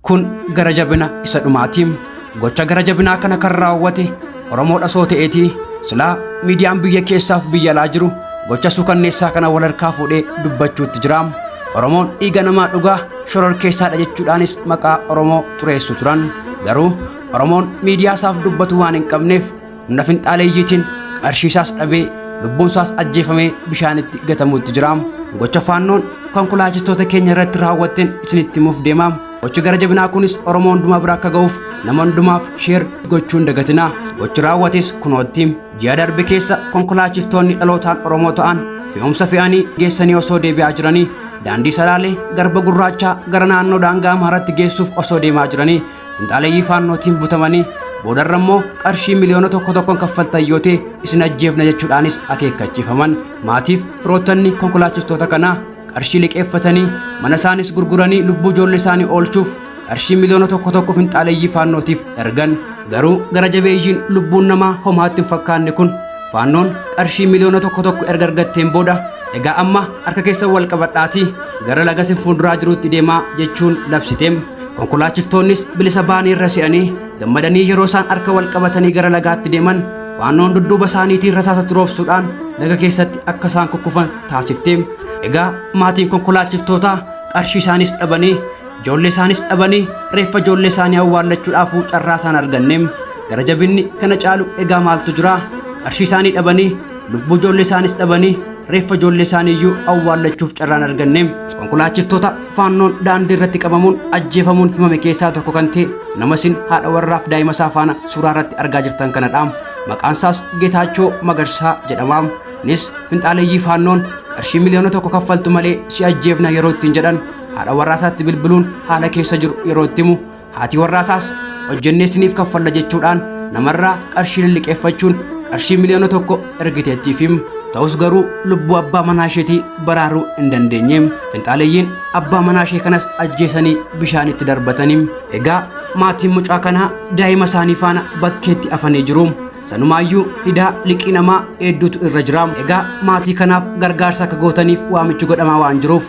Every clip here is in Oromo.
Kun gara jabina isa dhumaati. Gocha gara jabinaa kana kan raawwate Oromoodha soo ta'eeti silaa miidiyaan biyya keessaaf biyya alaa jiru gocha suukanneessaa kana wal harkaa fuudhee dubbachuutti jira. Oromoon dhiiga namaa dhugaa shoror keessaadha jechuudhaanis maqaa Oromoo xureessu turan. Garuu Oromoon miidiyaa isaaf dubbatu waan hin qabneef humna finxaaleeyyiitiin qarshiisaas dhabee lubbuunsaas ajjeefamee bishaanitti gatamuutti jira gocha faannoon konkolaachistoota keenya irratti raawwatteen isinitti himuuf deema gochi gara jabinaa kunis oromoo hundumaa bira akka ga'uuf nama hundumaaf sheer gochuun dagatina gochi raawwates kunootti ji'a darbe keessa konkolaachistoonni dhalootaan oromoo ta'an fe'umsa fe'anii geessanii osoo deebi'aa jiranii daandii salaalee garba gurraachaa gara naannoo daangaa amaaratti geessuuf osoo deemaa jiranii Finxaaleyyii faannootiin butamanii boodarra immoo qarshii miliyoona tokko tokkoon kaffaltan yoo ta'e isin ajjeefna jechuudhaanis akeekkachiifaman maatiif firoottanni konkolaachistoota kanaa qarshii liqeeffatanii mana isaanis gurguranii lubbuu ijoollee isaanii oolchuuf qarshii miliyoona tokko tokko finxaaleyyii faannootiif ergan garuu gara jabeeyyiin lubbuun namaa homaatti hin fakkaanne kun faannoon qarshii miliyoona tokko tokko erga argatteen booda egaa amma harka keessan wal qabadhaatii gara laga isin fuulduraa jiruutti deemaa jechuun labsiteem konkolaachiftoonnis bilisa baanii irra se'anii gammadanii yeroo isaan harka wal qabatanii gara lagaatti deeman faannoon dudduuba isaaniitiin rasaasatti roobsuudhaan laga keessatti akka isaan kukkufan taasifte egaa maatiin konkolaachiftootaa qarshii isaanis dhabanii ijoollee isaanis dhabanii reeffa ijoollee isaanii awwaallachuudhaafuu carraa isaan arganne gara jabinni kana caalu egaa maaltu jira qarshii isaanii dhabanii lubbuu ijoollee isaanis dhabanii reeffa ijoollee isaanii iyyuu awwaallachuuf carraan arganne konkolaachiftoota Faannoon daandii irratti qabamuun ajjeefamuun himame keessaa tokko kan ta'e nama isin haadha warraaf daa'ima isaa faana suuraa irratti argaa jirtan kanadha. Maqaan isaas Getaachoo Magarsaa jedhama. Innis finxaaleeyyii faannoon qarshii miliyoona tokko kaffaltu malee si ajjeefna yeroo ittiin jedhan haadha warraa isaatti bilbiluun haala keessa jiru yeroo itti himu Haati warraasaas hojjennee isiniif kaffalla jechuudhaan namarraa qarshii lilliqeeffachuun qarshii miliyoona tokko ergiteettiifim. Ta'us garuu lubbuu abbaa manaa isheetii baraaruu hin dandeenye. Finxaaleyyiin abbaa manaa ishee kanas ajjeesanii bishaanitti darbatani. Egaa maatiin mucaa kanaa daa'ima isaanii faana bakkeetti afanii jiru. Sanumaayyuu hidaa liqii namaa hedduutu irra jira. Egaa maatii kanaaf gargaarsa akka gootaniif waamichi godhamaa waan jiruuf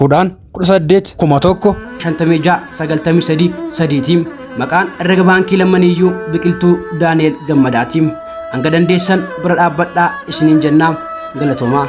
kudhaan kudha saddeet kuma tokko shantamii ja'a sagaltamii sadii sadiitiin maqaan herrega baankii lammaniiyyuu biqiltuu daani'el gammadaatiin hanga dandeessan bira dhaabbadhaa isiniin jennaa galatoomaa.